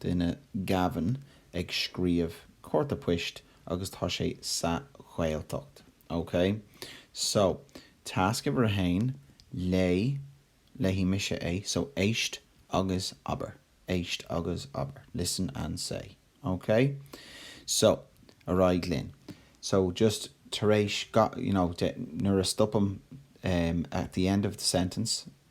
duine Gavin ag scríomh cárta poist agus tá sé sa Ghaeltacht. OK? So, tasc uimhir a haon, léigh, léifidh mise é, so éist agus abair. Éist agus abair. Listen and say. OK? So, ar aghaidh linn. So, just tar éis gach, you know, de, nuair a stopaim em at the end of the sentence,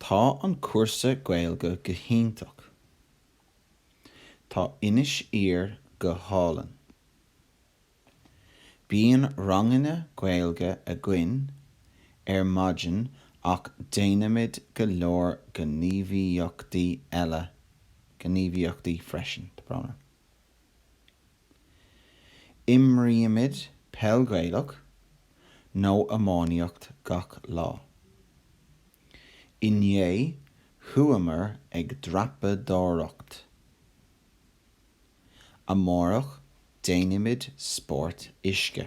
Tá an cúrsa Gaeilge go hiontach. Tá Inis Oírr go hálainn. Bíonn ranganna Gaeilge againn ar maidin ach déanaimid go leor gníomhaíochtaí eile gníomhaíochtaí freisin. Imrímid peil Ghaelach nó iománaíocht gach lá. Inné chuamar ag dreapadóireacht. Amárach déanfaimid spórt uisce.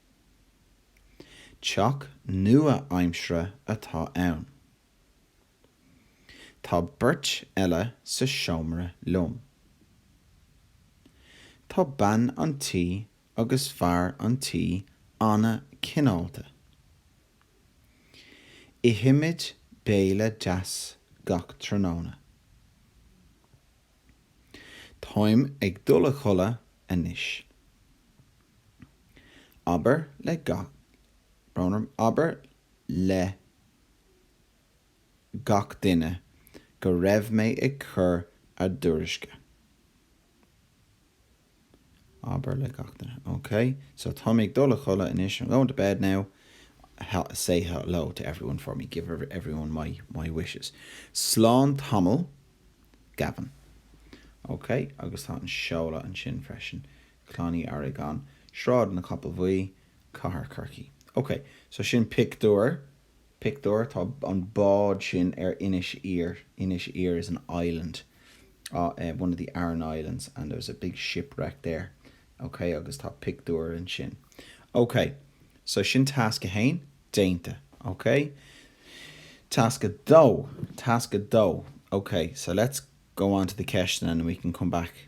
Teach nua-aimsire atá ann. Tá beirt eile sa seomra liom. Tá bean an tí agus fear an tí an-chineálta. Ithimid béile deas gach tráthnóna. Táim ag dul a chodladh anois. Abair le gach Abair le gach duine go raibh mé ag cur a dtuairisce. Abair le gach duine. Ok, so táim ag dul a chodladh anois, I'm going to bed now. He- say hello to everyone for me, give everyone my, my wishes. Slán tamall, Gavin. Ok, agus tá an seoladh ansin freisin, Clann Uí Fhearraigh, An, Sráid an Chapaill Bhuí, Cathair Chorcaí. Ok, so sin pictiúir Pictiúr, Tá an bád sin ar Inis Oírr, Inis Oírr is an island ah eh one of the Aran Islands and there was a big shipwreck there ok agus tá pictiúr ansin ok so sin tasc a haon déanta ok tasc a dó tasc a dó ok so let's go on to the ceisteanna and we can come back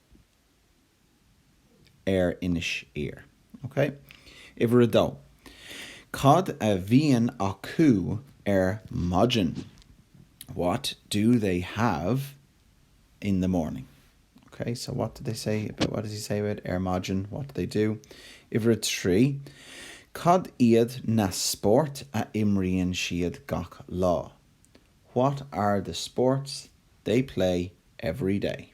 ar Inis Oírr. OK. Uimhir a dó, Cad a bhíonn acu ar maidin? What do they have in the morning? OK. So what do they say about, what does he say about ar maidin? What do they do? Uimhir a trí, Cad iad na spóirt a imríonn siad gach lá? What are the sports they play every day?